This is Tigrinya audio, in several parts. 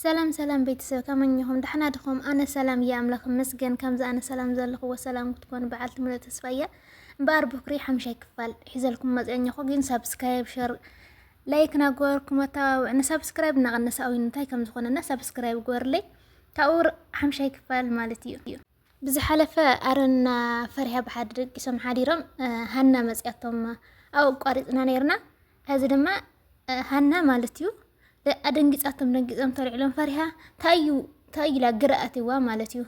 ሰላም ሰላም ቤተሰብ ከመይ እኚኹም ዳሕና ድኹም ኣነ ሰላም እየ ኣምላኽ ይመስገን ከምዚ ኣነ ሰላም ዘለኹዎ ሰላም ክትኮኑ በዓልቲ ምሉእ ተስፋ እየ እምበኣር ብኩሪ ሓምሻይ ክፋል ሒዘልኩም መጽኦ እኚኹ ግን ሳብስክራይብ ሸር ላይክ ናገበርኩም ኣተባብዑኒ ሳብስክራይብ እናቐነሰ ኣውዩ እንታይ ከም ዝኾነና ሳብስክራይብ ግበርለይ ካብኡ ሓምሻይ ክፋል ማለት እዩ ብዝሓለፈ ኣረና ፈሪሃ ብሓዲ ደቂሶም ሓዲሮም ሃና መጽያቶም ኣብኡ ኣቋሪጽና ነይርና ሕዚ ድማ ሃና ማለት እዩ ኣደንጊጻቶም ደንጊጾም ተልዕሎም ፈሪሃ ታዩ ታዩ ኢላ ግርኣትዋ ማለት እዩ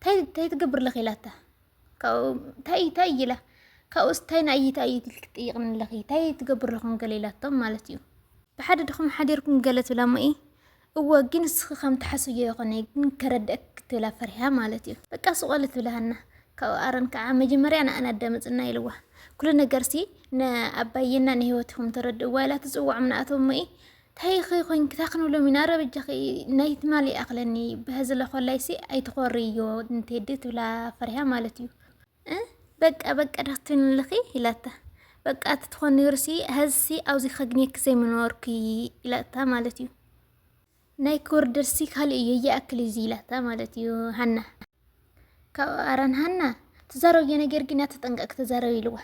ታይ ታይ ትገብር ለኺ ኢላታ ታይ ታይ ኢላ ካብኡስ ታይ ንኣይ ታይ እዩ ትልክ ትጥይቕኒ ኣለኺ ታይ ትገብር ለኹም ገለ ኢላቶም ማለት እዩ ብሓደ ድኹም ሓዲርኩም ገለ ትብላ እሞ እወ ግን ንስኺ ከም ትሓስብዮ ኣይኮነይ ግን ከረድእኪ ክትብላ ፈሪሃ ማለት እዩ በቃ ሱቅ በሊ ትብላ ሃና ካብኡ ኣረን ከዓ መጀመርያ ንኣና ኣዳምፅና ኢልዋ ኩሉ ነገርሲ ንኣባዬና ንህይወትኹም ተረድእዋ ኢላ ትፅውዖም ንኣቶም እሞ እዪ ታይኺ ኮንኪ እንታይ ክንብሎም ኢና ኣረ በጃኺ ናይ ትማሊ ይኣኽለኒ በሀዚ ለኾላይሲ ኣይትኾርዮ ንቴዲ ትብላ ፈሪሃ ማለት እዩ እ በቃ በቃ ዲኺ ትንልኺ ኢላታ። በቃ እቲ ትኾን ነይሩሲ ሀዝሲ ኣብዚ ከግንየኪ ዘይምነበርኩ ኢላታ ማለት እዩ። ናይ ክውርደርሲ ካልእ እዩ ይኣክል እዩ ኢላታ ማለት እዩ ሃና ካብኡ ኣረን ሃና ትዛረብዮ ነገር ግን ተጠንቀቅ ተዛረብ ኢልዋ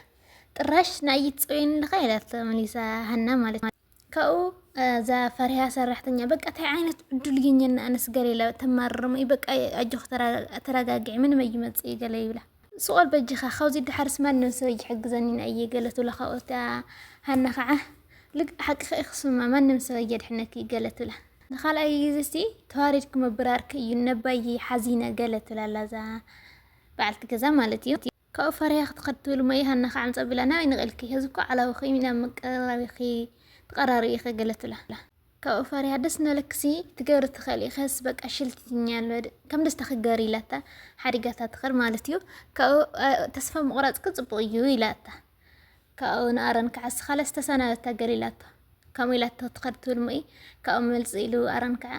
ጥራሽ ንኣይት ፀውየን ኣለኻ ኢላታ መሊሳ ሃና ማለት እዩ። ካብኡ እዛ ፈሪሃ ሰራሕተኛ በቃ ታይ ዓይነት ዕዱል ግኘና ኣነስ ገለ ኢላ ተማርርሞ እዩ በቃ ኣጆኺ ተረጋግዒ ምንም ኣይመፅእ እዩ ገለ ይብላ ስቆል በጅኻ ካብዚ ድሓርስ ማንም ሰብ ኣይሕግዘኒን ኣየ ገለ ትብሎ ካብኡ እታ ሃና ከዓ ልግ ሓቅኺ ኢኺ ስማ ማንም ሰብ ኣየድሕነኪ እዩ ገለ ትብላ ንካልኣይ ግዜ እስቲ ተዋሪድኪ ምብራርኪ እዩ ነባይ ሓዚነ ገለ ትብላ ኣላ እዛ በዓልቲ ገዛ ማለት እዩ ካብኡ ፈሪሃ ክትኸድ ትብል እሞ ዮሃና ካዓ ምፃእ ቢላ ናበይ ንቂልኪ ሀዚ እኮ ዓላዊ ኮይኑ ናብ መቀራረቢ ኢኪ ትቀራሪ ኢኪ ገለ ትብላ ካብኡ ፈሪሃ ደስ እናበለኪሲ ትገብሪ ትክእሊ ኢኪ ሀዚ በቃ ሽልቲትኛ ኣሎ ከም ደስታኪ ግበሪ ኢላታ ሓዲጋታ ትከድ ማለት እዩ ካብኡ ተስፋ ምቁራፅኪ ፅቡቅ እዩ ኢላታ ካብኡ ንኣረን ካዓ ስካለስ ተሰናበታ ገለ ኢላቶ ከምኡ ኢላቶ ትከድ ትብል እሞ ካብኡ መልፂ ኢሉ ኣረን ካዓ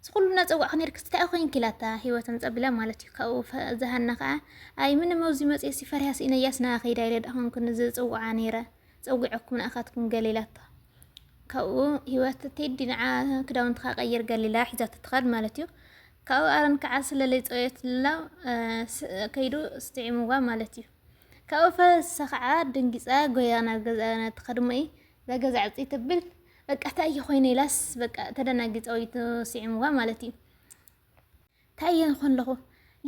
እዚ ኩሉ እናጸዋዕኪ ኔርክስ ታይ ኮንኪ ኢላታ ሂወት ኣምጻ ኣቢላ ማለት እዩ ካብኡ እዛ ሃና ከኣ ኣይ ምንም ኣብዚ መጽየሲ ፈሪሃ ሲኢነያስ ናኣ ከይዳ ኢለ ዳኣኮንኩ ዝጽውዓ ኔረ ጸዊዐኩም ናኣካትኩም ገለ ኢላታ ካብኡ ሂወት ቴዲ ንዓ ክዳውንትካ ቀይር ገለ ኢላ ሒዛቶ ትኸድ ማለት እዩ ካብኡ ኣረን ከኣ ስለለይ ጸወየትላ ከይዱ ስጥዒምዋ ማለት እዩ ካብኡ ፈሳ ከኣ ደንጊጻ ጎያ ናብ ገዛ ትኸድሞ እዩ ዛገዛ ዕብጢ ተብል በቃ ታይ ኮይነ ኢላስ በቃ ተደናጊጸ ወይ ስዒምዋ ማለት እዩ ታይ እየ ንኾን ኣለኹ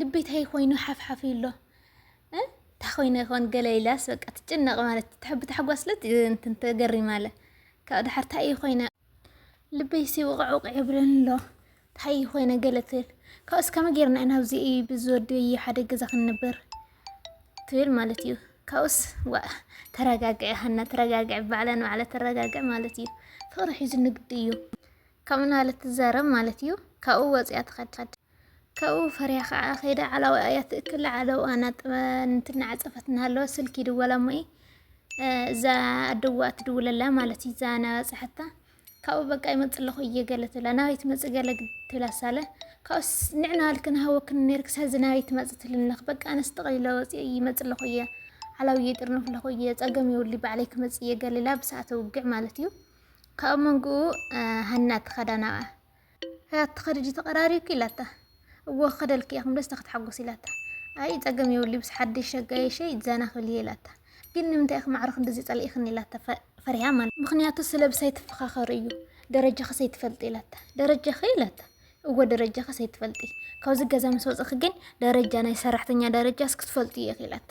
ልበይ ታይ ኮይኑ ሓፍሓፍ ኢሎ ታይ ኮይነ ይኾን ገለ ኢላስ በቃ ትጭነቕ ማለት ትሕቢ ታሕጓስለ እንትን ተገሪማለ ካብ ድሓር ታይ እየ ኮይነ ልበይ ሲ ውቕዕ ውቕዕ ይብለኒ ኣሎ ታይ ኾይነ ገለ ትብል ካብኡስ ከመይ ጌርና ኢና ኣብዚ ብዝወደይ ሓደ ገዛ ክንነብር ትብል ማለት እዩ። ካብኡስ ዋእ ተረጋግዒ ሃና ተረጋግዒ፣ ባዕላ ንባዕላ ተረጋግዒ ማለት እዩ። ፍቕሪ ሒዙ ንግዲ እዩ ከምኡ እናበለት ትዛረብ ማለት እዩ። ካብኡ ወፂኣ ትኸድ ካብኡ ፈሪያ ከዓ ከይዳ ዓላዊኣ እያ ትእክል ዓለውኣ እንትናዓፀፈት እናሃለወ ስልኪ ይድወላ እሞ'የ እዛ ኣደዋ ትድውለላ ማለት እዩ እዛ ናበፅሐታ ካብኡ በቃ ይመጽእ ኣለኹ እየ ገለ ትብላ ናበይ ትመጽእ ገለ ትብላ ሳለ ካብኡስ ንዕና ኣልክ ንሃወክን ነርክ ሳዚ ናበይ ትመጽእ ትልነኽ በቃ ኣነስ ጠቕሊለ ወጽየ ይመጽእ ኣለኹ እየ ሓላዊ ይጥርንፍ ኣለኹ እየ ጸገም የብሉ ባዕለይ ክመጽእ እየ ገሊላ ብሰዓተ ውግዕ ማለት እዩ ካብኡ መንግኡ ሃና ትኸዳ ናብኣ ኣያት ትኸዲ ዲዩ ተቐራሪብኪ ኢላታ። እወ ክኸደልኪ እየ ክንብለስ ተክትሓጎስ ኢላታ። ኣይ ጸገም የብሉይ ምስ ሓደሽ ኣጋይሸይ ዘና ክብል እየ ኢላታ። ግን ንምንታይ ኢኺ ማዕረ ክንድዚ ጸሊኢክኒ ኢላታ ፈሪሃ ማለት እዩ። ምኽንያቱ ስለ ብሳይ ትፈኻኸሪ እዩ ደረጃኺስ ኣይትፈልጢ ኢላታ። ደረጃኺ ኢላታ። እወ ደረጃኺስ ኣይትፈልጢ ካብዚ ገዛ ምስ ወጸኺ ግን ደረጃ ናይ ሰራሕተኛ ደረጃስ ክትፈልጢ ኢኺ ኢላታ።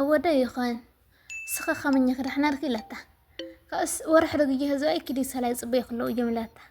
እወ ዶ ይኾን እስኺ ከመኛኺ ዳሕና ድኺ ኢላታ። ካብኡስ ወርሒ ዶ ግየ ህዝባይ ኪዲ ሰላ ይጽበዩኺ ኣለዉ እዮም ኢላታ።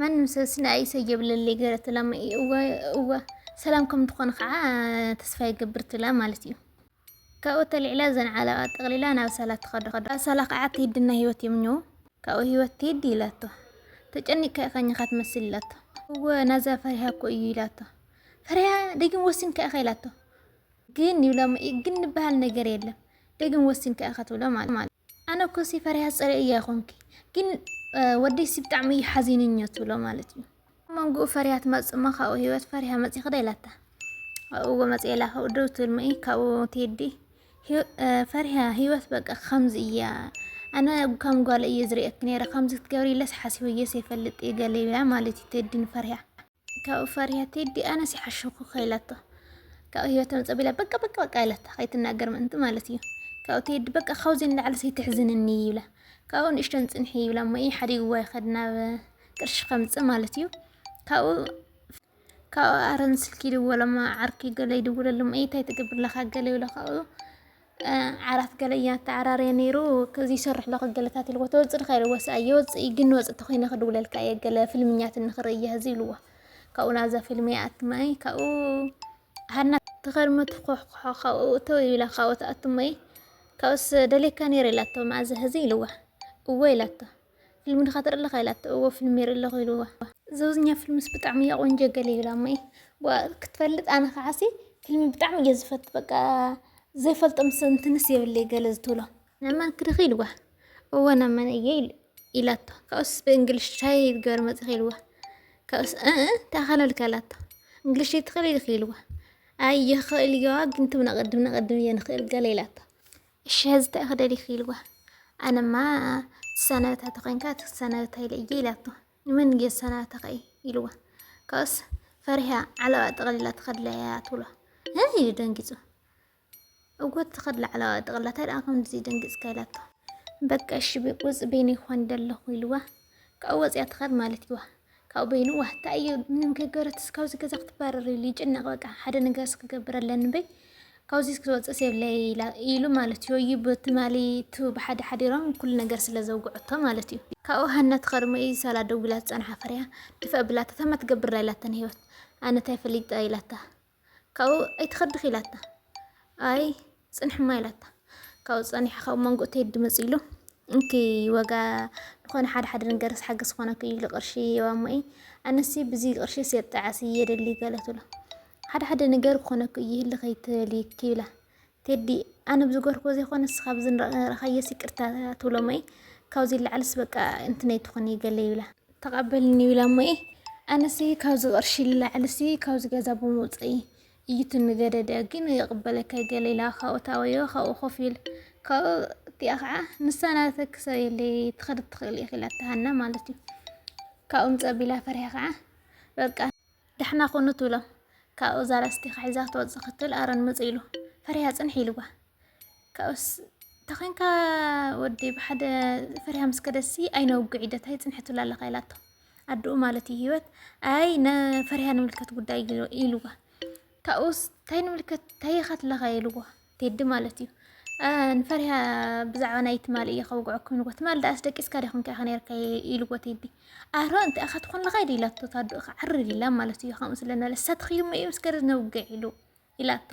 ማንም ሰብ ስለ ኣይሰ የብለለይ ገለ ትላሞ እዩ እወ እወ ሰላም ከም ትኾኑ ከዓ ተስፋ ይገብር ትላ ማለት እዩ ካብኡ ተልዒላ ዘን ዓለቓ ጠቕሊላ ናብ ሳላ ትኸዶ ኣብ ሳላ ከዓ ትሂድና ህይወት የምኘው ካብኡ ህይወት ትሂድ ይላቶ ተጨኒቅካ ኢኻ ኝኻ ትመስል ይላቶ እወ ናዛ ፈሪሃ እኮ እዩ ይላቶ ፈሪሃ ደጊም ወሲንካ ኢኻ ይላቶ ግን ይብላ ግን ንበሃል ነገር የለም ደግም ወሲንካ ኢኻ ትብሎ ማለት ኣነ እኮ ሲ ፈሪሃ ፅሬ እያ ይኮንኪ ግን ወደይ ሲ ብጣዕሚ እዩ ሓዚንኛ ትብሎ ማለት እዩ መንጉኡ ፈሪሃ ትመፅእ እሞ ካብኡ ህይወት ፈሪሃ መፂኺ ዶ ኢላታ ኣብኡ መፅእ ኢላ ካብኡ ደው ትብል እሞ ካብኡ ትሄዲ ፈሪሃ ህይወት በቃ ከምዚ እያ ኣነ ከም ጓል እየ ዝርእየኪ ነይረ ከምዚ ክትገብሪ ኢለስ ሓሲበየስ የፈልጥ እየ ገለ ይብላ ማለት እዩ ትሄዲ ንፈሪሃ ካብኡ ፈሪሃ ቴዲ ኣነስ ይሓሸኩ ከኢላቶ ካብኡ ህይወት ተምፀቢላ በቃ በቃ በቃ ኢላታ ከይትናገር ምእንቲ ማለት እዩ ካብኡ ቴዲ በቃ ካብዚ ንላዕሊ ዘይትሕዝንኒ ይብላ ካብኡ ንእሽተን ፅንሒ ይብላ እሞ እዩ ሓዲግዋ ይኸድ ናብ ቅርሺ ከምፅእ ማለት እዩ ካብኡ ካብኡ ኣረን ስልኪ ይድወለማ ዓርኪ ገለ ይድውለሎም እዩ እንታይ ትገብር ኣለካ ገለ ይብላ ካብኡ ዓራት ገለ እያ ተዓራርየ ነይሩ ይሰርሕ ኣለኹ ገለታት ኢልዎ ተወፅእ ዲኻ ኢልዎ ሰኣይ የወፅእ እዩ ግን ወፅእ ተኾይነ ክድውለልካ እየ ገለ ፍልምኛት ንኽርኢ እየ ህዚ ኢልዎ ካብኡ ናብዛ ፊልም ይኣትማ እየ ካብኡ ሃና ተኸርመ ትኾሕኩሖ ካብኡ እተው ኢላ ካብኡ ትኣትሞ እየ ካብኡስ ደልየካ ነይረ ኢላቶ መኣዘ ህዚ ኢልዋ እወ ኢላቶ ፊልሚ ድኻ ትርኢ ኣለኻ ኢላቶ እወ ፊልሚ ይርኢ ኣለኹ ኢልዋ። ዘውዝኛ ፍልምስ ብጣዕሚ እያ ቆንጆ ገለ ይብላ እሞ እየ ክትፈልጥ ኣነ ከዓሲ ፊልሚ ብጣዕሚ እየ ዝፈት በቃ ዘይፈልጦም ሰብ እንትንስ የብለይ ገለ ዝትብሎ ናመን ክድኺ ኢልዋ እወ ናመን እየ ኢላቶ ካብኡስ ብእንግሊሽ ታይ ገር መፅኺ ኢልዋ ካብኡስ እ ተኣኸለልካ ኣላቶ እንግሊሽ ይትኽእል ኢልኺ ኢልዋ ኣይ ይኽእል እየዋ ግን ትብና ቅድም ንቅድም እየ ንኽእል ገለ ኢላቶ እሺ ሀዚ ታይ ክደሊኪ ኢልዋ ኣነማ ትሳናበታ ተኮይንካ ትሳናበታ ኢለ እየ ኢላቶ ንመን እየ ዝሳናበተካ እዩ ኢልዋ ካብኡስ ፈሪሃ ዓለባ ጠቅሊላ ትከድላ እያ ትብሎ እ ኢሉ ደንጊፁ እወ ትከድላ ዓለባ ጠቅሊላ ታይ ደኣ ከምዚ ደንጊፅካ ኢላቶ በቃ እሺ ውፅ በይነይ ክኮን ደለኩ ኢልዋ ካብኡ ወፅያ ትከድ ማለት እዩዋ ካብኡ በይኑ ዋህ ታይ እዩ ምንም ከይገበረትስ ካብዚ ገዛ ክትባረር ኢሉ ይጭነቅ በቃ ሓደ ነገርስ ክገብር ኣለኒ በይ ካብዚ ክትወፅእስ የብለይ ኢላ ኢሉ ማለት እዩ እዩ ብትማሊ ቱ ብሓደ ሓዲሮም ኩሉ ነገር ስለ ዘውግዐቶ ማለት እዩ ካብኡ ሃና ትኸርሞ እዩ ሳላ ደዊላ ዝፀንሓ ፍርያ ድፈእ ብላታ ታማ ትገብር ኢላታ ንህይወት ኣነ ታይ ፈሊጠ ኢላታ ካብኡ ኣይትኸድኺ ኢላታ። ኣይ ጽንሕማ ኢላታ። ካብኡ ጸኒሑ ካብ መንጎ ቴዲ መጽኡ ኢሉ እንኪ ዋጋ ዝኾነ ሓደ ሓደ ነገር ሓገዝ ዝኾነኪ እዩ ኢሉ ቅርሺ ይህባ እሞ እዩ ኣነሲ ብዚ ቅርሺ የጣዓሲ የደሊ ገለ ትብሎ ሓደ ሓደ ነገር ክኾነኪ እዩ ህልኽ ኣይትበሊ ይብላ ቴዲ ኣነ ብዝገርኩ ዘይኮነ ንስካ ብዝረኣካዮስ ይቅርታ ትብሎ እሞ ካብዚ ንላዕልስ በቃ እንትነይ ትኩኒ ገለ ይብላ ተቀበልኒ ይብላ እሞ ኣነሲ ካብዚ ቅርሺ ንላዕልሲ ካብዚ ገዛ ብምውፀይ እዩ ትንገደደ ግን ይቅበለካ ገለ ኢላ ካብኡ ታወዮ ካብኡ ኮፍ ኢል ካብኡ እቲኣ ከዓ ንሳ ናተ ክሰብ የለይ ትከድ ትክእል ኢኪ ኢላታ ሃና ማለት እዩ ካብኡ ምፀ ቢላ ፈሪሃ ከዓ በቃ ዳሕና ኩኑ ትብሎ ካብኡ እዛ ላስቲካ ሒዛ ክትወጽእ ክትል ኣረን ምጽእ ኢሉ ፈሪሃ ጽንሒ ኢልዋ ካብኡስ ተኾንካ ወዲ ብሓደ ፈሪሃ ምስ ከደሲ ኣይነውግዕ ኢደት ኣይ ጽንሒ ትብላ ኣለካ ኢላቶ ኣድኡ ማለት እዩ ህይወት ኣይ ንፈሪሃ ንምልከት ጉዳይ ኢልዋ ካብኡስ እንታይ ንምልከት እንታይ ኢኻ ትለኻ ኢልዋ ቴዲ ማለት እዩ ንፈሪሃ ብዛዕባ ናይ ትማል እየ ከውግዐኩም ኢልዎ ትማል ደኣስ ደቂስካ ዲኹም ከ ከነርካ ኢልዎ ቴዲ ኣሮ እንተ ኣኻ ትኾን ለኻ ኢድ ኢላቶ ታዱ ክዓርር ኢላ ማለት እዩ ከምኡ ስለ ንበለ ሰትኽዩ እሞ እዩ ምስ ገርዝ ነውግዕ ኢሉ ኢላቶ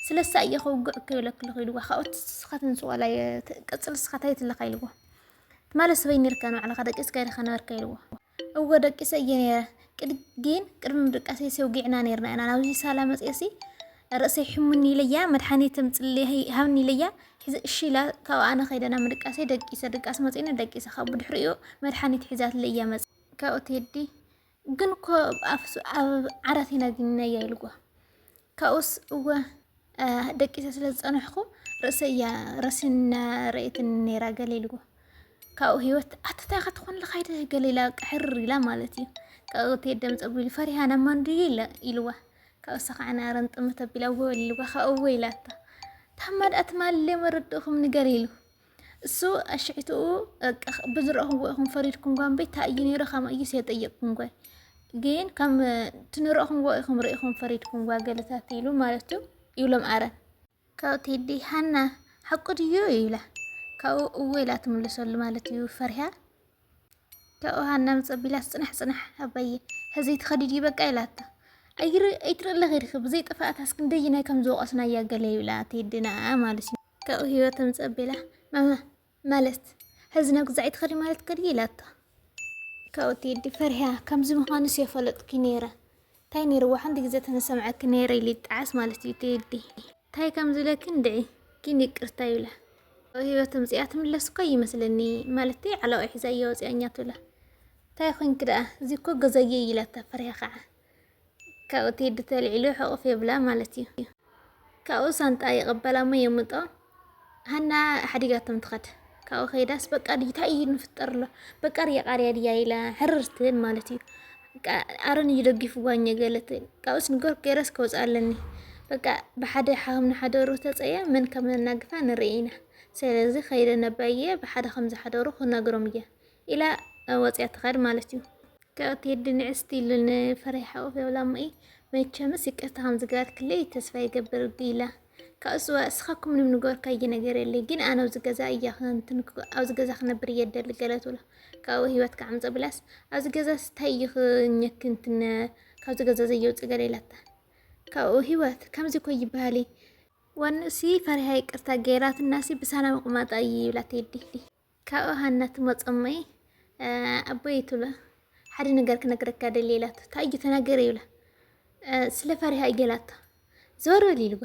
ስለሳ እየ ከውግዕ ከይብለክልኹ ኢልዎ ካብኡ ንስኻ ትንሱ ዋላ ቅፅል ንስኻ ታይ ትለካ ኢልዎ ትማል ሰበይ ነርካ ንባዕልኻ ደቂስካ ዲኻ ነበርካ ኢልዎ እወ ደቂሰ እየ ነይረ ግን ቅድሚ ምድቃሰይ ሰውጊዕና ነይርና ኢና ናብዚ ሳላ መፅኤሲ ርእሰይ ሕሙኒ ኢለያ መድሓኒት ምፅሊ ሃብኒ ኢለያ ሒዘ እሺ ኢላ ካብኡ ኣነ ከይደ ናብ ምድቃሰይ ደቂሰ ድቃስ መፂኒ ደቂሰ ካብኡ ድሕሪኡ መድሓኒት ሒዛትለ እያ መፅ ካብኡ ትሄዲ ግን እኮ ኣብ ዓራት ኢና ግንነያ ኢልዎ ካብኡስ እወ ደቂሰ ስለ ዝጸንሕኩ ርእሰይ እያ ረሲና ረእየትኒ ነይራ ገለ ኢልዎ። ካብኡ ህይወት ኣቲ እንታይ ኢኻ ትኾን ኣለኻ ኢለ ገለ ኢላ ቅሕር ኢላ ማለት እዩ። ካብኡ ቴዲ ደም ጸጉሪ ኢሉ ፈሪሃ ናብ ማን ድዩ ኢለ ኢልዋ። ካብኡ እሳ ከዓ ናረን ጥምት ኣቢላ ወል ኢልዋ ካብኡ እወ ኢላታ። ታማ ደኣ ትማሊ መረድእኹም ንገር ኢሉ። እሱ ኣሽዕትኡ ብዝረእኹዎ ኢኹም ፈሪድኩም ጓ እምበይ ታይ እዩ ነይሩ ከምኡ እዩ የጠየቅኩም ጓ ግን ከም ትንረእኹዎ ኢኹም ርኢኹም ፈሪድኩም ጓ ገለታት ኢሉ ማለት እዩ ይብሎም ኣረን ካብኡ ቴዲ ሃና ሓቁ ድዩ ይብላ ካብኡ እወ ኢላ ትምልሰሉ ማለት እዩ ፈሪሃ ካብኡ ሃናም ጸቢላስ ጽናሕ ጽናሕ ኣባዬ ሀዚ ትኸዲ ድዩ በቃ ኢላቶ ኣይትርኢ ኣለኺ ዲኺ ብዘይ ጥፍኣታስ ክንደይናይ ከም ዝወቐስናያ ገለ ይብላ ቴድና ማለት እዩ ካብኡ ህይወትም ጸቢላ ማማ ማለት ሀዚ ናብ ግዛዕ ኣይትኸዲ ማለት ከድዩ ኢላቶ ካብኡ ቴዲ ፈሪሃ ከምዚ ምዃንስ የፈለጥኩ ነይረ ታይ ነይርዋ ሓንቲ ግዘ ተመሰምዐኪ ነይረ ኢሊ ጣዓስ ማለት እዩ ቴዲ። ታይ ከም ዝብለኪ እንድዒ ግን ይቅርታ ይብላ። ኣብ ሂወት ተምፂኣ ትምለስ እኳ ይመስለኒ ማለተይ ዓለዋይ ሒዛ እያ ወፂኣኛ ትብላ ታይ ኮይንኪ ዳኣ እዚ እኮ ገዛይ እዩ ኢላታ ፈሪሃ ካዓ ካብኡ ቴዲ ተልዒሉ ሕቁፍ የብላ ማለት እዩ። ካብኡ ሳንጣኣ ይቕበላ እሞ የምጦ ሃና ሓዲጋቶም ትኸድ ካብኡ ከይዳስ በቃ ድዩ እንታይ እዩ ንፍጠር ኣሎ በቃ ርያ ቃርያ ድያ ኢላ ሕርር ትብል ማለት እዩ ኣረን እዩ ደጊፍዋ እኘ ገለ ትብል ካብኡስ ንገር ገረስ ከውፅኣ ኣለኒ በቃ ብሓደ ሓም ንሓደሩ ተፀየ መን ከም ነናግፋ ንርኢ ኢና ስለዚ ከይደ ነባየ ብሓደ ከም ዝሓደሩ ክነግሮም እየ ኢላ ወፂኣ ትኸድ ማለት እዩ። ካብኡ ቴዲ ንዕስቲ ኢሉ ንፍሬ ሓቁፍ የብላ እሞ መቸምስ ይቅርታ ከምዝገበርክለይ ተስፋ ይገብር ኢላ ካብኡ ስዋ እስኻኩም ምንም ንገበርካዬ ነገር የለይ ግን ኣነ ኣብዚ ገዛ እያ ክንትንኩ ኣብዚ ገዛ ክነብር እየ ደሊ ገለ ትብሎ ካብኡ ህይወት ክዓምፀ ብላስ ኣብዚ ገዛ ስታይ እዩ ክኘክ እንትን ካብዚ ገዛ ዘየውፅእ ገለ ኢላታ ካብኡ ህይወት ከምዚ እኮ ይበሃል እዩ ወንኡሲ ፈሪሃ ይቅርታ ገይራትናሲ ብሰላም ቁማጣ እዩ ይብላ ቴዲ ካብኡ ሃና ትመጾ እሞ ኣቦይ ትብሎ ሓደ ነገር ክነግረካ ደልየ ኢላቶ እንታይ እዩ ተናገረ ይብላ ስለ ፈሪሃ እዩ ገላቶ ዘወር በል ይልዋ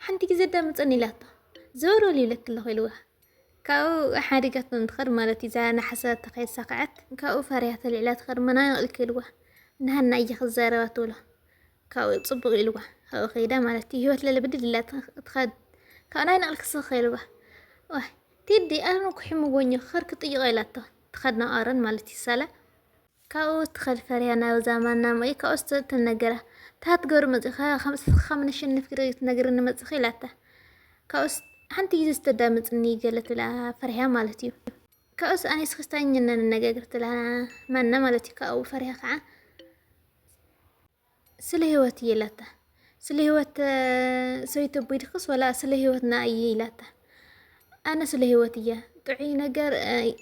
ሓንቲ ግዜ ኣዳምጸኒ ኢላቶ ዘወር በል ይብለኪ ኣለኹ ኢልዋ ካብኡ ሓዲጋቶ እንትኸድ ማለት እዩ እዛ ናሓሰባታ ከየሳኸዐት ካብኡ ፈሪሃ ተልዒላ ትኸድ መናቕ ኢልኪ ኢልዋ ንሃና እየ ክዛረባ ትብሎ ካብኡ ጽቡቕ ኢልዋ ካብኡ ከይዳ ማለት እዩ ህይወት ለለ ብድድ ኢላ ትኸድ ካብኡ ናይ ነቕልኪ ስኽ ኢልዋ ቴዲ ኣነ እኮ ሒሙወኝ እዩ ክኸድ ክጥይቆ ኢላቶ ትኸድ ናብ ኣሮን ማለት እዩ ሳላ ካብኡ ትኸድ ፈሪሃ ናብዛ ማና ሞይ ካብኡስ ተ- ተነግራ ታትገሩ መጺኻ ከምስኻ ከም ነሸንፍ ግደ ትነግርኒ መጽኺ ኢላታ ካብኡስ ሓንቲ ግዜ ዝተዳመጽኒ ገለ ትብላ ፈሪሃ ማለት እዩ ካብኡስ ኣነ እስኺ ስታኝና ንነጋገር ትብላ ማና ማለት እዩ ካብኡ ፈሪሃ ከዓ ስለ ህይወት እየ ኢላታ ስለ ህይወት ሰይቲ ኣቦይ ድክስ ወላ ስለ ህይወትና እየ ኢላታ ኣነ ስለ ህይወት እያ ጥዑይ ነገር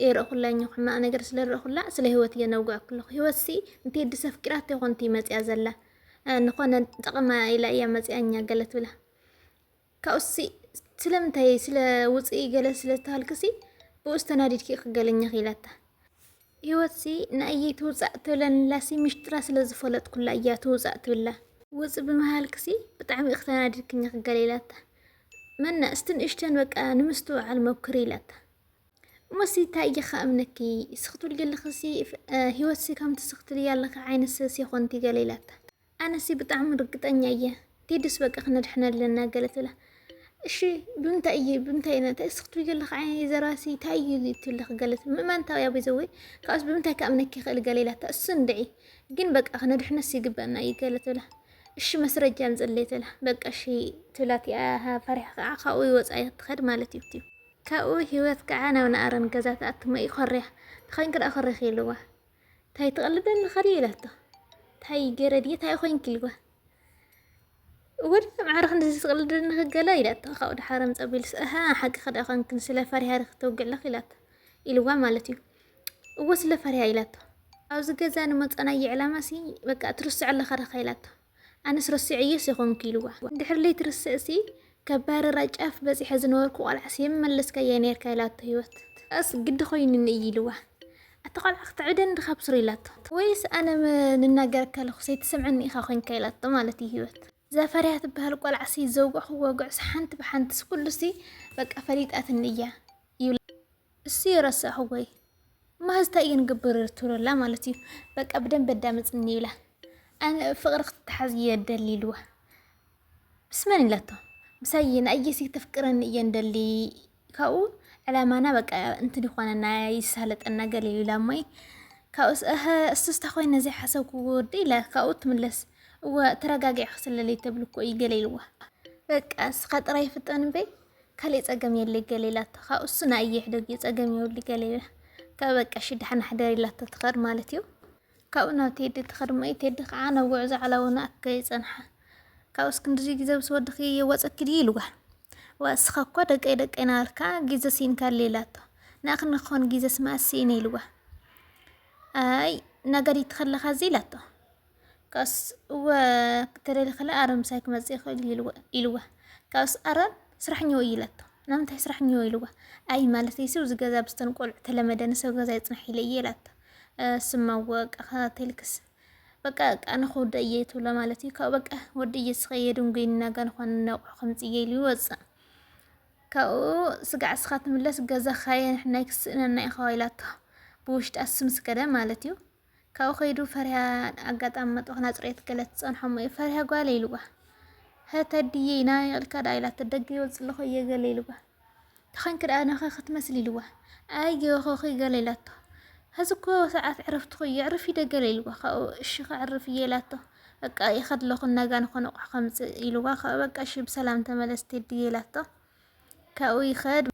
የርእኹላ እኛ ሕማቕ ነገር ስለ ርእኹላ ስለ ህይወት እየ ነውግዕ ክልኹ ህይወት ሲ እንተ ድሰ ኣፍቂራት ይኾንቲ መፅያ ዘላ ንኾነ ጠቕማ ኢላ እያ መፅያ እኛ ገለ ትብላ ካብኡሲ ስለምንታይ ስለ ውጽኢ ገለ ስለ ዝተሃልክሲ ብኡስ ተናዲድኪ ክገለኛ ክኢላታ ህይወትሲ ንኣየይ ትውጻእ ትብለንላሲ ምሽጥራ ስለ ዝፈለጥኩላ እያ ትውጻእ ትብላ ውጽ ብምሃልክሲ ብጣዕሚ እኽ ተናዲድክኛ ክገለ ኢላታ መና እስቲ ንእሽተን በቃ ንምስትውዓል ሞክሪ ኢላታ እሞሲ ታይ እየ ከኣምነኪ ስኽትብል ገለኽሲ ህይወትሲ ከምቲ ስኽትብያ ኣለኺ ዓይነት ሰብ ሴኾንቲ ገለ ኢላታ ኣነሲ ብጣዕሚ ርግጠኛ እየ ኪድስ በቃ ክነድሕና ኣለና ገለ ትብላ እሺ ብምንታይ እየ ብምንታይ ኢና እንታይ እስኪ ትብልዮ ኣለኺ ዓይነይ ዘራሲ እንታይ እዩ ኢሉ ትብል ኣለኺ ገለ ትብል ምእማን ታብያ በይዘወይ ካብኡስ ብምንታይ ክኣምነኪ ይኽእል ገለ ኢላታ እሱ እንድዒ ግን በቃ ክነድሕነስ ይግበኣና እዩ ገለ ትብላ እሺ መስረጃ ኣምፅለይ ትብላ በቃ እሺ ትብላ እቲኣ ፈሪሓ ከዓ ካብኡ ወፃኢ ክትኸድ ማለት እዩ ካብኡ ሂወት ከዓ ናብ ንኣረን ገዛ ትኣቱ መኢ ኮርያ ተኸንኪ ደኣ ኮሪኺ ኢልዋ ታይ ትቅልዲ ኣለኻ ድየ ኢላቶ ታይ ገረ ድየ ታይ ኮንኪ ኢልዋ ወዲ ማዕረ ክንድዚ ትቅልዲ ኣለኺ ገለ ኢላቶ ካብኡ ድሓር ምጸቢልስ እሃ ሓቂ ከዳ ኮንክን ስለ ፈሪሃ ዲኺ ተውግዕ ኣለኺ ኢላቶ ኢልዋ ማለት እዩ እወ ስለ ፈሪሃ ኢላቶ ኣብዚ ገዛ ንመጸናየ ዕላማሲ በቃ ትርስዕ ኣለኻ ዲኻ ኢላቶ ኣነስ ረሲዐዮስ የኾንኩ ኢልዋ። ድሕሪ ለይቲ ርስዕሲ ከባርራ ጫፍ በጺሐ ዝነበርኩ ቆልዓስ የምመለስካያ ኔርካ ኢላቶ ሂወት። ኣነስ ግዲ ኮይኑኒ እዩ ኢልዋ። ኣቲ ቆልዓ ክትዕብደኒ ድኻ ብ ሱሪ ኢላቶ። ወይስ ኣነ ንናገረካ ኣለኹ ሰይትሰምዐኒ ኢኻ ኮንካ ኢላቶ ማለት እዩ ሂወት። እዛ ፈሪሃ ትብሃል ቆልዓሲ ዘውገዕክዋ ጉዕስ ሓንቲ ብሓንትስ ኩሉሲ በቃ ፈሊጣትኒ እያ ይብላ። እሱይ ረሳዕኹጎይ ማህዝ ታይ እዩ ንግብር ትብለላ ማለት እዩ በቃ ብደንብ ኣዳምፅኒ ይብላ ኣነ ፍቅሪ ክትተሓዝ እየ ደሊ ኢልዋ ምስ መን ኢላቶ ምሳይ ንኣየሲ ክተፍቅረኒ እየ ንደሊ ካብኡ ዕላማና በቃ እንትን ይኾነና ይሳለጠና ገለ ኢላ እሞይ ካብኡስ እህ እሱስ ተኮይነ ዘይሓሰብኩ ወዲ ኢላ ካብኡ ትምለስ እወ ተረጋጊዕኪ ስለለይ ተብልኮ እዩ ገለ ኢልዋ በቃ እስኻ ጥራይ ፍጠን እምበይ ካሊእ ጸገም የለይ ገለ ኢላቶ ካብ እሱ ንኣይ ይሕደግ እዩ ጸገም የብሉ ገለ ኢላ ካብ በቃ እሺ ደሓን ሕደር ኢላቶ ትኸድ ማለት እዩ ካብኡ ናብ ቴዲ ትኸድ እሞ ቴዲ ከዓ ናብ ጉዕዞ ዓላውና ኣከ ይጸንሓ ካብ እስክንድሪ ግዜ ምስ ወድኺ ወጸኪ ድዩ ኢልዋ ወእስኻ እኮ ደቀይ ደቀይ ናበልካ ግዜ ሲኢንካ ኣሎ ኢላቶ ንኣኽኒ ክኾን ግዜስ መኣስ ስኢነ ኢልዋ ኣይ ነጋዲት ከለኻ እዚ ኢላቶ ካብስ እወ ክትደሊ ከላ ኣረ ምሳይ ክመፅእ ይኽእል እዩ ኢልዋ። ካብስ ኣረ ስራሕ እኒሆ እዩ ኢላቶ። ናምንታይ ስራሕ እኒሆ ኢልዋ። ኣይ ማለተይሲ ኣብዚ ገዛ ብዝተን ቆልዑ ተለመደ ንሰብ ገዛ ይፅናሕ ኢለ እየ ኢላቶ። ስማ እወ በቃ ከታተልክስ በቃ በቃ ኣነ ክወደ እየ ትብሎ ማለት እዩ። ካብኡ በቃ ወዲ እየ ስኸየ ድንጉይኒ ናጋ ንኳን ነቑሑ ከምፅ እየ ኢሉ ይወፅእ። ካብኡ ስጋዕ ስኻ ትምለስ ገዛ ኻየ ንሕና ይክስእነና ኢኻ ኢላቶ። ብውሽጣ ስምስ ከደ ማለት እዩ። ካብኡ ከይዱ ፈሪሃ ኣጋጣሚ መጥባኽ ናጽሬት ገለ ትጸንሖም እዩ ፈሪሃ ጓለ ኢልዋ ተድዬ ናበይ ኢልካ ደኣ ኢላቶ ደገ ይወጽእ ኣለኹ እየ ገለ ኢልዋ ተኸንኪ ደኣ ነኸ ክትመስል ኢልዋ ኣየኸኺ ገለ ኢላቶ ሕዚ እኮ ሰዓት ዕረፍትኹ እዩ ዕርፍ ኢደ ገለ ኢልዋ ካብኡ እሺ ከዕርፍ እየ ኢላቶ በቃ ይኸድ ኣለኹ እናጋ ንኾነ ኣቑሑ ከምጽእ ኢልዋ ካብኡ በቃ እሺ ብሰላም ተመለስ ቴድዬ ኢላቶ ካብኡ ይኸድ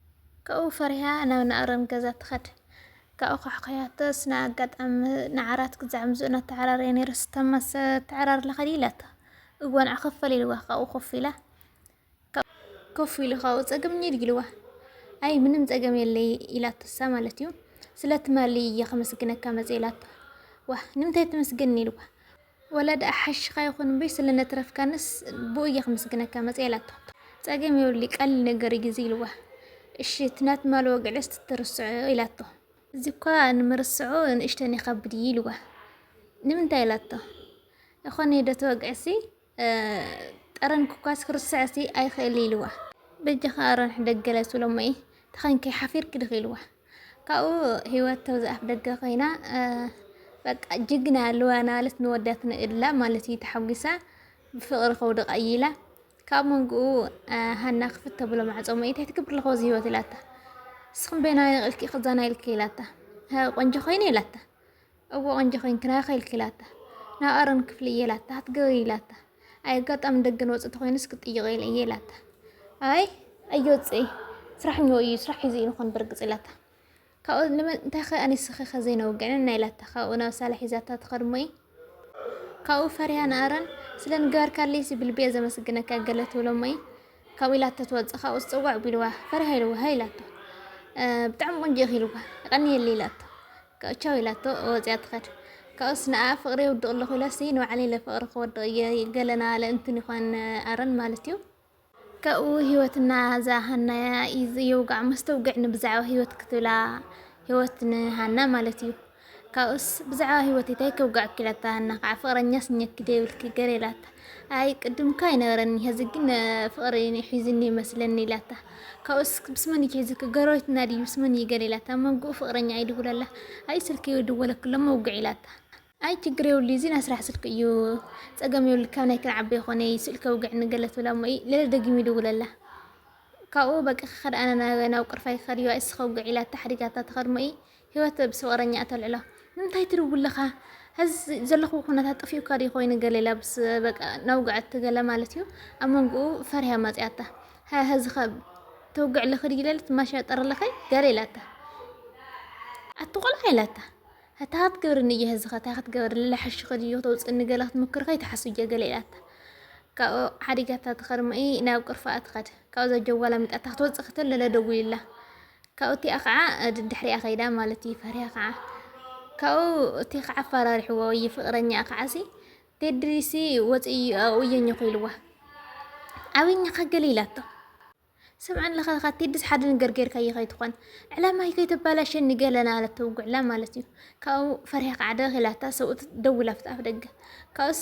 ካብኡ ፈሪሃ ናብ ንኣረም ገዛ ትኸድ ካብኡ ኳሕኳሕያቶ ስነ ኣጋጣሚ ንዓራት ክዛዕ ምዝኡ እናተዓራረየ ነይሩ ስተማሰ ተዕራርላ ኸዲ ኢላቶ እግቦ ንዓ ከፈል ኢልዋ ካብኡ ኮፍ ኢላ ኮፍ ኢሉ ካብኡ ፀገም እኒድ ኢልዋ ኣይ ምንም ፀገም የለይ ኢላቶ እሳ ማለት እዩ ስለትማሊ እየ ከመስግነካ መፀ ኢላቶ ዋ ንምንታይ ትመስገኒ ኢልዋ ወላ ደኣ ሓሽኻ ይኹን እምበይ ስለ ነትረፍካንስ ብኡ እየ ክምስግነካ መጽየ ኢላቶ። ጸገም የብሉይ ቀሊል ነገር እዩ ግዜ ኢልዋ። እሺ እቲ ናት ማል ወግዕስ ትትርስዖ ኢላቶ። እዚ እኳ ንምርስዑ ንእሽተን ይኸብድ እዩ ኢልዋ። ንምንታይ ኢላቶ። ይኾን እየ ዶ እቲ ወግዕሲ ጠረንኪ እኳስ ክርስዕሲ ኣይክእል ኢልዋ። በጃኻ ኣርንሕ ደገለ ስሎሞይ ተኸንኪ ሓፊርኪ ድኺ ኢልዋ። ካብኡ ህይወት ተውዚ ኣፍደገ ኮይና በቃ ጅግና ኣለዋ ናበለት ንወዳት ንእላ ማለት እዩ ተሓጒሳ ብፍቕሪ ከውድቕ ኣየላ ካብ መንግኡ ሃና ክፍት ተብሎ ማዕጾ መኢታይ ትገብር ኣለኹ እዚ ህይወት ኢላታ ንስኹም በየናይ ኢልኪ ክዛና ኢልኪ ኢላታ ቆንጆ ኮይኑ ኢላታ እወ ቆንጆ ኮይንክን ኣይክልክ ኢላታ ናብ ኣሮን ክፍሊ እየ ኢላታ ክትገብሪ ኢላታ ኣይ ኣጋጣሚ ደገ ንወፅእ ተኮይኑስ ክትጥይቆ ኢለ እየ ኢላታ ኣይ ኣይወፅእ ስራሕ ኞ እዩ ስራሕ ሒዙ እዩ ንኮን ብርግፅ ኢላታ ካብኡ ንመን እንታይ ከ ኣንስኺ ከ ዘይነውግዕን ናይ ኢላታ ካብኡ ናብ ሳላ ሒዛታ ትኸድ እሞ እዩ ካብኡ ፈሪሃ ንኣሮን ስለንገበርካለይ ሲ ብልቢ እየ ዘመስግነካ ገለ ትብሎ እሞ እዩ ካብኡ ኢላቶ ትወጽእ ካብኡ ዝጽውዕ ቢልዋ ፈሪሃ ኢልዋ ሃይ ኢላቶ ብጣዕሚ ቆንጆ ኢኺ ኢልዋ ይቀንየለይ ኢላቶ ካብኡ ቻው ኢላቶ ወጽያ ትኸድ ካብኡስ ንኣ ፍቅሪ የውድቕ ኣለኹ ኢላሲ ንባዕለይ ኢለ ፍቅሪ ክወድቕ እየ ገለና ኣለ እንትን ይኾን ኣረን ማለት እዩ ካብኡ ህይወትና እዛ ሃና የውጋዕ መስተውግዕ ንብዛዕባ ህይወት ክትብላ ህይወት ንሃና ማለት እዩ ካብኡስ ብዛዕባ ሂወተይ ታይ ከውግዐኪ ኢላታ ሃና ከዓ ፍቅረኛስ እኘኪ ዶ የብልኪ ገሬ ኢላታ ኣይ ቅድም እኮ ኣይነበረኒ ሀዚ ግን ፍቅሪ እዩ ሒዙኒ ይመስለኒ ኢላታ ካብኡስ ምስ መን እዩ ሒዙኪ ጎረቤትና ድዩ ምስ መን እዩ ገሬ ኢላታ መንግኡ ፍቅረኛ እዩ ድውለላ ኣይ ስልኪ ደወለክሎም መውግዒ ኢላታ ኣይ ችግር የብሉ እዚ ናይ ስራሕ ስልኪ እዩ ፀገም የብሉ ካብ ናይ ክንዓበ ይኮነ እዩ ስእልኪ ኣውግዕኒ ገለ ትብላ እሞ ለለ ደጊሙ ይድውለላ ካብኡ በቃ ክኸድ ኣነ ናብ ናብ ቅርፋይ ክኸድ እዩ ኣይ እስኺ ከውግዒ ኢላታ ሓዲጋታ ትኸድ እሞ ህይወት ምስ ፍቕረኛኣ ተልዕሎ። ንምንታይ ትድውል ኣለኻ? ሐዚ ዘለኹዎ ኩነታት ጠፊኡካ ድዩ ኮይኑ ገለ ኢላ ምስ በቃ ነውግዐት ገለ ማለት እዩ። ኣብ መንጎኡ ፈሪሃ መጺኣታ። ሃ ሐዚኸ ተውግዕ ኣለኺ ድዩ ኢለለት ማሻ ጠር ኣለኺ ገለ ኢላታ። ኣቲ ቆልዓ ኢላታ። እታይ ክትገብርኒ እየ ሐዚኸ እታይ ክትገብርኒ ለሐሽኺ ድዩ ክተውጽእኒ ገለ ክትምክሪ ከይትሓስቢ እየ ገለ ኢላታ። ካብኡ ሓዲጋታ ትኸድሞ እይ ናብ ቅርፋኣ ትኸድ። ካብኡ እዛ ጀዋል ኣሚጣታ ክትወጽእ ከተለለ ደዊሉላ። ካብኡ እቲኣ ከዓ ድድሕሪኣ ከይዳ ማለት እዩ ፈሪሃ ከዓ ካብኡ እቲ ከዓ ኣፈራሪሕዎ እዩ ፍቅረኛኣ ከዓሲ ቴድሪሲ ወፂኡ እየኝኹ ኢልዋ ኣበኝኻ ገለ ኢላቶ ስምዐን ለኸለኻ ቴድስ ሓደ ነገር ጌርካዮ ከይትኾን ዕላማይ ከይተባላሸኒ ገለና ኣለቶ ውጉዕላ ማለት እዩ ካብኡ ፈሪሃ ከዓ ደኺላታ ሰብኡት ደዊላ ኣፍ ደገ ካብኡስ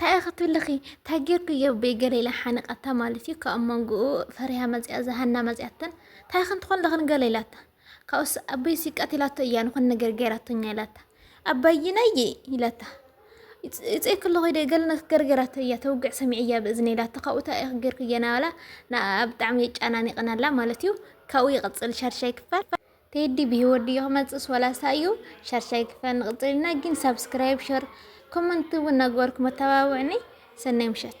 ታይ እኺ ትብልኺ ታይ ገርኩ እየ በይገለ ኢላ ሓኒቃታ ማለት እዩ ካብ ሞንጉኡ ፈሪሃ መፂኣ እዛ ሃና መፂኣተን ታይ እኽን ትኾን ለኽን ገለ ኢላታ ካብኡስ ኣበይሲ ቀቲላቶ እያ ንኹን ነገር ገይራቶኛ ኢላታ ኣባይናየ ኢላታ ይፅእ ክለኹ ኢደ ገለ ነክ ገርገራቶ እያ ተውግዕ ሰሚዐያ ብእዝነ ኢላታ ካብኡ ታይ እኺ ገርኩ እየ ናባላ ንኣኣ ብጣዕሚ የጫናኒቅናላ ማለት እዩ ካብኡ ይቅፅል ሻድሻይ ክፋል ቴዲ ብሂወት ድዩ ክመጽእስ ወላ ሳዩ ሻድሻይ ክፋል ንቅጽል ኢና ጊን ሳብስክራይብ ሸር ኮመንት ውን ናገበርኩም ኣተባብዑኒ ሰናይ ምሸት።